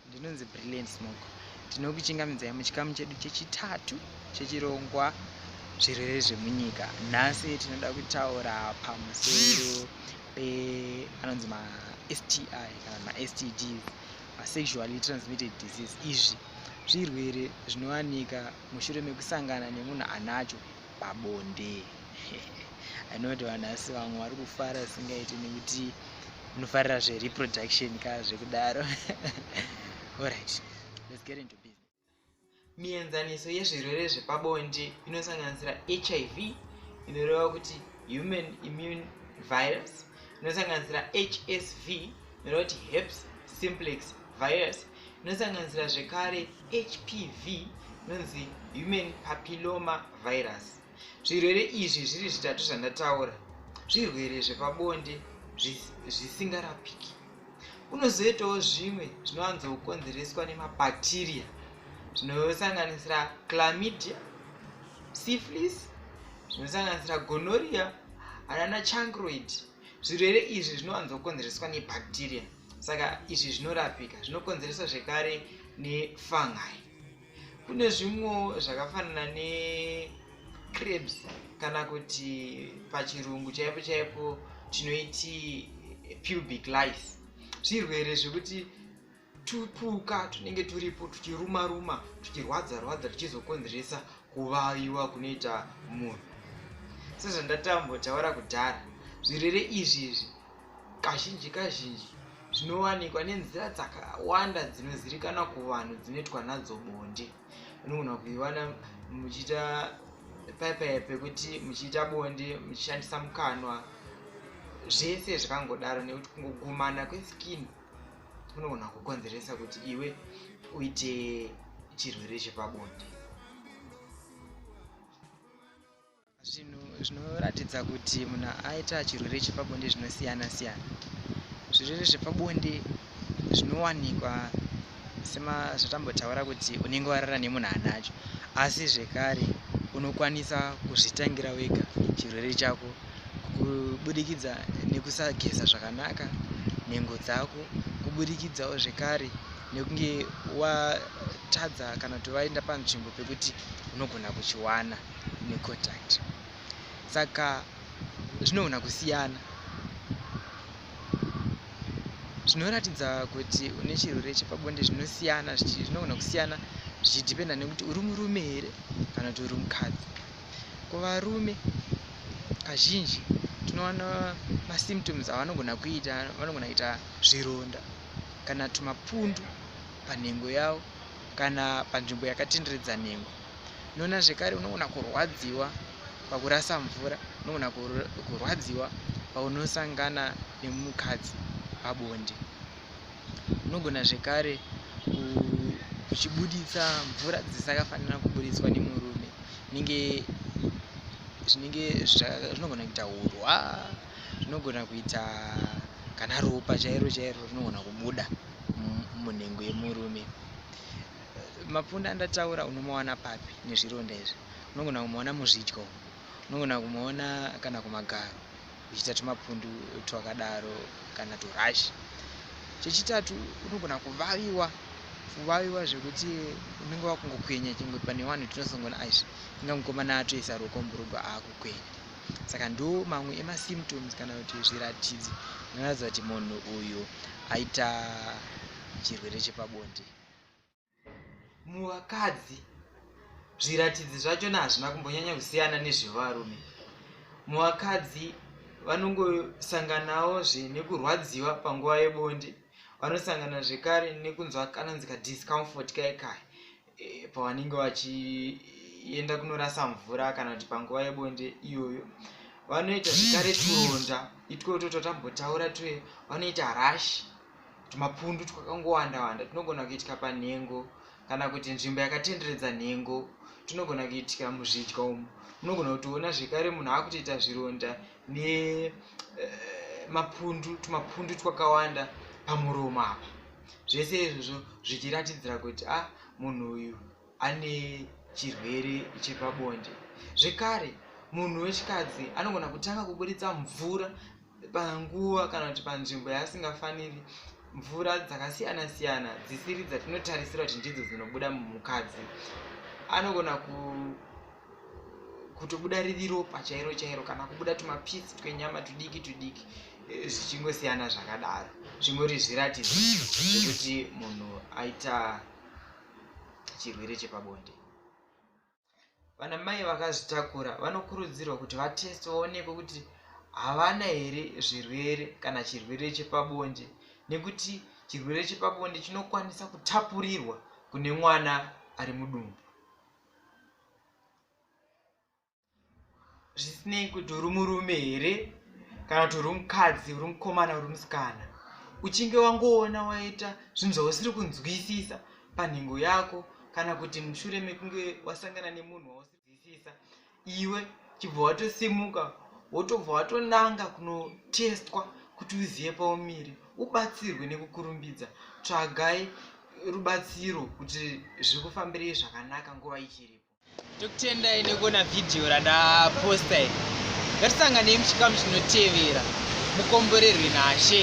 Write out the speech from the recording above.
Ndinonzi Brilliant Smoke. Tinokuchingamidzai muchikamu chedu chechitatu chechirongwa zvirwere zvemunyika. Nhasi tinoda kutaura pamusoro pe anonzi ma STI kana ma STD, ma sexually transmitted disease. Izvi zvirwere zvinowanika mushure mekusangana nemunhu anacho pabonde i know kuti vanhu asi vamwe vari kufara singaiti nekuti unofarira zvereproduction ka zvekudaro orit let's get into business mienzaniso yezvirwere zvepabonde inosanganisira hiv inoreva kuti human immune virus inosanganisira hsv inoreva kuti heps simplex virus inosanganisira zvekare hpv inonzi human papilloma virus zvirwere izvi zviri zvitatu zvandataura zvirwere zvepabonde zvisingarapiki kunozoitawo zvimwe zvinowanzokonzereswa nemabhakteriya zvinosanganisira clamidia syphilis zvinosanganisira gonoria anana chancroid zvirwere izvi zvinowanzokonzereswa nebacteria saka izvi zvinorapika zvinokonzereswa zvekare nefungi kune zvimwewo zvakafanana necrebs kana kuti pachirungu chaipo chaipo tinoiti pubic lice zvirwere zvekuti tupuka tunenge turipo tuchiruma ruma tuchirwadza rwadza tuchizokonzeresa kuvaviwa kunoita munhu sezvandatambotaura kudhara zvirwere izvi izvi kazhinji kazhinji zvinowanikwa nenzira dzakawanda dzinozirikana kuvanhu dzinoitwa nadzo bonde unogona kuiwana muchiita paipai pekuti muchiita bonde muchishandisa mukanwa zvese zvakangodaro nekuti kungogumana kweskin unogona kukonzeresa kuti iwe uite chirwere chepabonde zvinhu zvinoratidza kuti munhu aita chirwere chepabonde zvinosiyana siyana zvirwere zvepabonde zvinowanikwa semazotambotaura kuti unenge warara nemunhu anacho asi zvekare unokwanisa kuzvitangira wega chirwere chako kubudikidza nekusageza zvakanaka nhengo dzako kubudikidzawo zvekare nekunge watadza kana kuti vaenda panzvimbo pekuti unogona kuchiwana necontact saka zvinogona kusiyana zvinoratidza kuti une chirwere chepabonde zvinosiyana zvinogona kusiyana zvichidhipenda nekuti uri murume here kana kuti uri mukadzi kuvarume kazhinji tinowana masymptoms avanogona kuita vanogona kuita zvironda kana tumapundu panhengo yavo kana panzvimbo yakatenderedza nhengo nona zvekare unogona kurwadziwa pakurasa mvura unogona kurwadziwa paunosangana nemukadzi pabonde unogona zvekare kuchibuditsa mvura dzisikafanira kubuditswa nemurume inenge zvinenge zvinogona kuita urwa zvinogona kuita kana ropa chairo chairo rinogona kubuda munhengo yemurume Mapfunde andataura unomawana papi nezvironda izvi? Unogona kumaona muzvidya umu, unogona kumaona kana kumagaro uchiita tumapundu twakadaro kana turashi. Chechitatu unogona kuvaviwa kuvaviwa zvekuti unenge wakungokwenya chingwe pane vanhu tinosongona izvi inga mukomana atoisa ruoko murugwa akukwenya saka ndo mamwe emasymptoms kana kuti zviratidzo zvinoratidza kuti munhu uyu aita chirwere chepabonde muvakadzi zviratidzi zvachona hazvina kumbonyanya kusiyana nezvevarume muvakadzi vanongosanganawo zve nekurwadziwa panguva yebonde vanosangana zvekare nekunzwa kanonzika discomfort kai kai e, pavanenge vachienda kunorasa mvura kana kuti panguva yebonde iyoyo vanoita zvekare turonda itwoto twatambotaura twe vanoita rashi tumapundu twakangowanda wanda tunogona kuitika panhengo kana kuti nzvimbo yakatenderedza nhengo tunogona kuitika muzvidya umu munogona kutoona zvekare munhu akutoita zvironda nemapundu eh, tumapundu twakawanda pamuromo apa zvese izvozvo zvichiratidzira kuti a ah, munhu uyu ane chirwere chepabonde zvekare munhu wechikadzi anogona kutanga kuburitsa mvura panguva kana kuti panzvimbo yaasingafaniri mvura dzakasiyana siyana dzisiri dzatinotarisira kuti ndidzo dzinobuda mumukadzi anogona ku kutobuda riri ropa chairo chairo kana kubuda tumapisi twenyama tudiki tudiki eh, zvichingosiyana zvakadaro zvingori zviratidzo zvekuti munhu aita chirwere chepabonde vana mai vakazvitakura vanokurudzirwa kuti vateste vaonekwe kuti havana here zvirwere kana chirwere chepabonde nekuti chirwere chepabonde chinokwanisa kutapurirwa kune mwana ari mudumbu zvisinei kuti uri murume here kana kuti uri mukadzi uri mukomana uri musikana uchinge wangoona waita zvinhu zvausiri kunzwisisa panhengo yako kana kuti mushure mekunge wasangana nemunhu wausidzisisa iwe chibva watosimuka wotobva watonanga kunotestwa kuti uzive paumiri ubatsirwe nekukurumbidza tsvagai rubatsiro kuti zviri kufambirei zvakanaka nguva ichiripo tokutendai nekuona vhidhiyo randaposta iri ngatisanganei muchikamu chinotevera mukomborerwe nashe